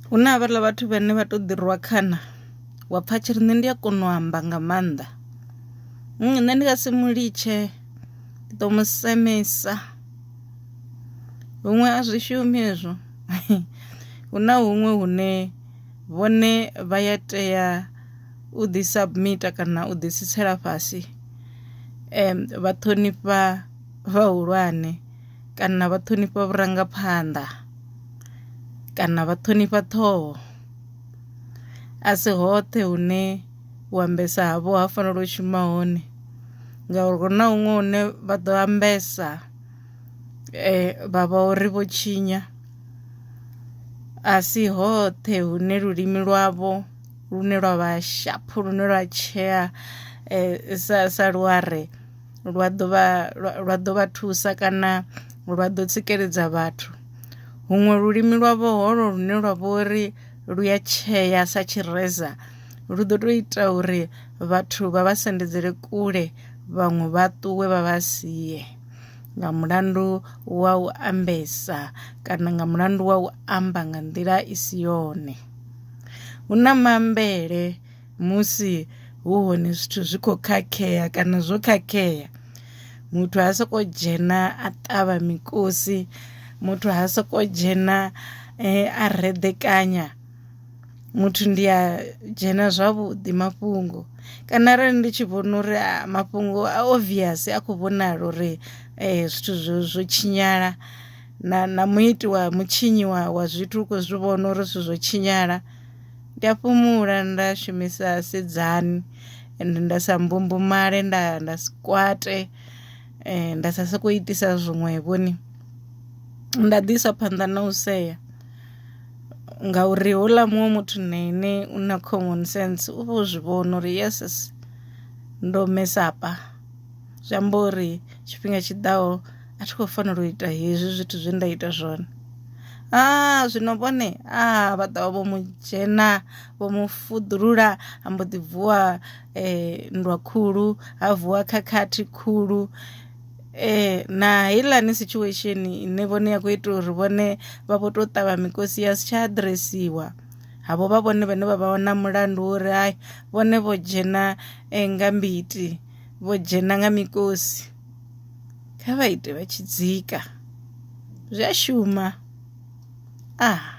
Hu na havhaḽa vhathu vhane vha to ḓi rwa khana wa pfha tshiri nṋe ndi a kona u amba nga maanḓa nṋe ndi nga si mu litshe ndi ḓo mu semisa, huṅwe a zwi shumi hezwo hu na huṅwe hune vhone vha ya tea u ḓi submit kana u ḓi tsitsela fhasi vha ṱhonifha vhahulwane. kana vha ṱhonifha vhurangaphanḓa kana vha ṱhonifha ṱhoho a si hoṱhe hune u ambesa havho ha fanela u shuma hone ngauri hu na huṅwe hune vha ḓo ambesa vha vha uri vho tshinya a si hoṱhe hune lulimi lwavho lune lwa vha shaphu lune lwa tshea sa sa luware. lwa ḓo vha lwa ḓo vha thusa kana lwa ḓo tsikeledza vhathu. Huṅwe lulimi lwa vho holo lune lwa vha uri lu ya tshea sa tshireza lu ḓo to ita uri vhathu vha vha sendedzele kule vhaṅwe vha ṱuwe vha vha sie nga mulandu wa u ambesa kana nga mulandu wa u amba nga nḓila i si yone. Hu na mambele musi hu hone zwithu zwi khou khakhea kana zwo khakhea muthu ha soko dzhena a ṱavha mikosi muthu ha soko dzhena eh, a reḓekanya muthu ndi a dzhena zwavhuḓi mafhungo kana arali ndi tshi vhona uri ah, mafhungo a obvious a khou vhonala uri eh, zwithu zwo zwo tshinyala na na muiti wa mutshinyi wa wa zwithu u khou zwi vhona uri zwithu zwo tshinyala Ndi a fhumula nda shumisa sidzani ende nda sa mbumbumale nda nda si kwate nda sa sokou itisa zwiṅwe vhoni nda ḓi isa phanḓa na u sea ngauri houḽa muṅwe muthu na ine u na common sense u vho zwi vhona uri yes ndo mesapa zwi amba uri tshifhinga tshiḓaho. a thi khou fanela u ita hezwi zwithu zwe nda ita zwone a zwino vhone a vha ṱavha vho mu dzhena vho mu fuḓulula ha mbo ḓi vuwa eh, nndwa khulu ha vuwa khakhathi khulu eh na heiḽani situation ine vhone ya khou ita uri vhone vha vho tou ṱavha mikosi ya si tsha adresiwa havho vha vhone vhane vha vha wana mulandu wo uri hai vhone vho dzhena eh, nga mbiti vho dzhena nga mikosi kha vha ite vha tshi dzika zwi a shuma ah.